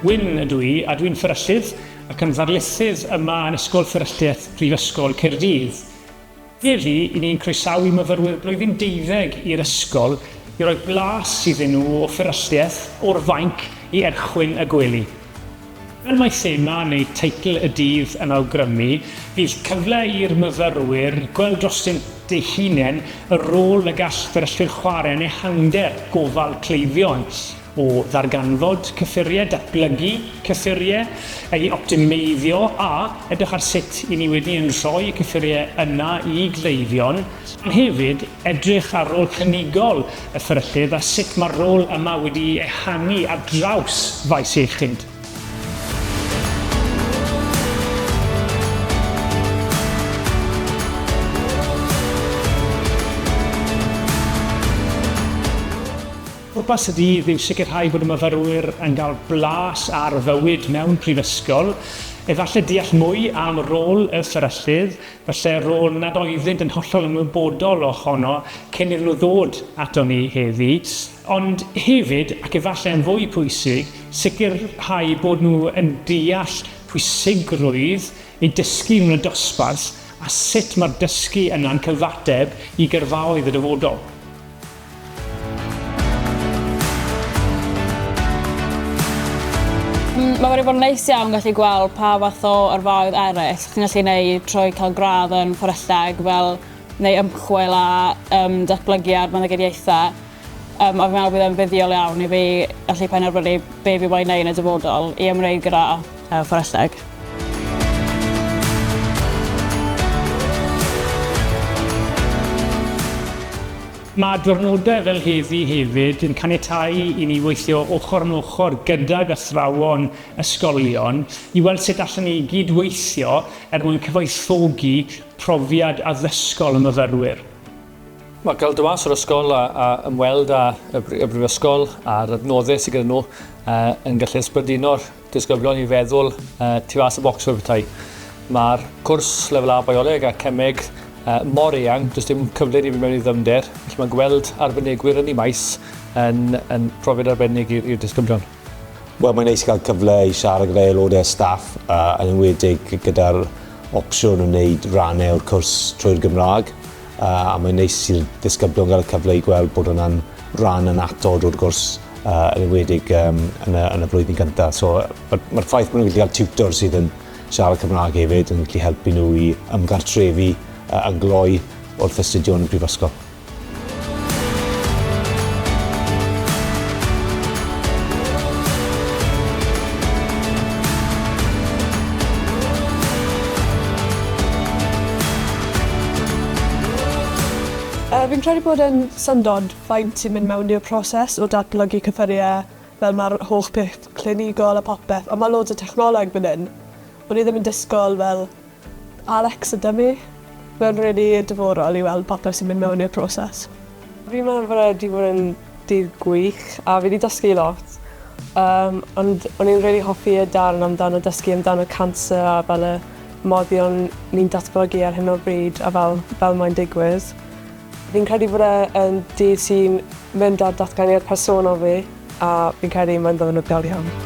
Wyn ydw i a dwi'n fferyllydd ac yn ddarlithydd yma yn Ysgol Fferylliaeth Prifysgol Caerdydd. Heddi, i ni'n croesawu myfyrwyr blwyddyn deuddeg i'r ysgol i roi blas iddyn nhw o fferylliaeth o'r fainc i erchwyn y gwely. Fel mae thema neu teitl y dydd yn awgrymu, bydd cyfle i'r myfyrwyr gweld drostynt eu hunain, y rôl y gall fferyllwyr chwarae yn ehangder gofal cleifion, o ddarganfod cyffuriau, datblygu cyffuriau, eu optimeiddio a edrych ar sut 'yn ni wedi yn rhoi y cyffuriau yna i gleifion, ond hefyd, Edrych ar rôl clinigol y fferyllydd a sut mae'r rôl yma wedi'i ehangu ar draws faes iechyd. Pwrpas y dydd yw sicrhau bod y myfyrwyr yn cael blas ar fywyd mewn prifysgol, efallai deall mwy am rôl y fferyllydd Falle ro nad oeddynt yn hollol ymwybodol o hono cyn iddyn nhw ddod aton ni heddi, ond hefyd, ac efallai yn fwy pwysig, sicrhau bod nhw yn deall pwysigrwydd eu dysgu mewn y dosbarth a sut mae'r dysgu yna'n cyfateb i gyrfaoedd y dyfodol. Mm, mae wedi bod yn neis iawn gallu gweld pa fath o yrfaoedd eraill chi'n gallu gwneud trwy cael gradd yn fforelleg fel neu ymchwil a um, datblygiad meddygediaethau. Um, a fi'n meddwl bydd e'n fuddiol iawn i fi allu penderfynu be fi wedi gwneud yn y dyfodol i ymwneud gyda Ewch o'r aseg. Mae diwrnodau fel heddi hefyd yn caniatáu i ni weithio ochr yn ochr gydag athrawon ysgolion i weld sut allen ni gyd-weithio er mwyn cyfoethogi profiad addysgol y myfyrwyr. Mae cael dod mas o'r ysgol a ymweld â Brifysgol a'r adnoddau sydd gyda nhw yn gallu ysbrydino'r Disgyblion i feddwl tu fas y bocs fel petai. Mae'r cwrs lefel A bioleg a cemeg mor eang, does dim cyfle i ni fynd mewn i ddyfnder, felly mae gweld arbenigwyr yn y maes yn, yn profiad arbennig i'r disgyblion. Wel, mae'n neis cael cyfle i siarad gyda aelodau staff, yn enwedig gyda'r opsiwn o wneud rannau o'r cwrs trwy'r Gymraeg. Uh, a mae'n neis i'r ddisgyblion gael y cyfle i gweld bod hwnna'n rhan yn atod o'r gwrs uh, yn ymwedig um, yn, y, yn y flwyddyn gyntaf. So, Mae'r ma ffaith bod nhw'n gallu cael tutor sydd yn siarad Cymraeg hefyd yn gallu helpu nhw i ymgartrefi uh, yn gloi wrth astudio yn y prifysgol. Yy fi'n credu bod e'n syndod faint sy'n mynd mewn i'r proses o datblygu cyffurie fel ma'r holl peth clinigol a popeth on' ma' loads o technoleg myn' yn. O'n i ddim yn disgwl fel Alexa Dummy. Ma'n rili diddorol i weld popeth sy'n mynd mewn i'r proses. Fi'n meddwl bod e 'di bod yn Dydd gwych a fi 'di dysgu lot yym ond o'n i'n rili hoffi y darn amdano dysgu amdano canser a fel y moddion ni'n datblygu ar hyn o bryd a fel fel mae'n digwydd. Fi'n credu bod e yn dydd sy'n mynd ar datganiad personol fi a fi'n credu mae'n ddiwrnod del iawn.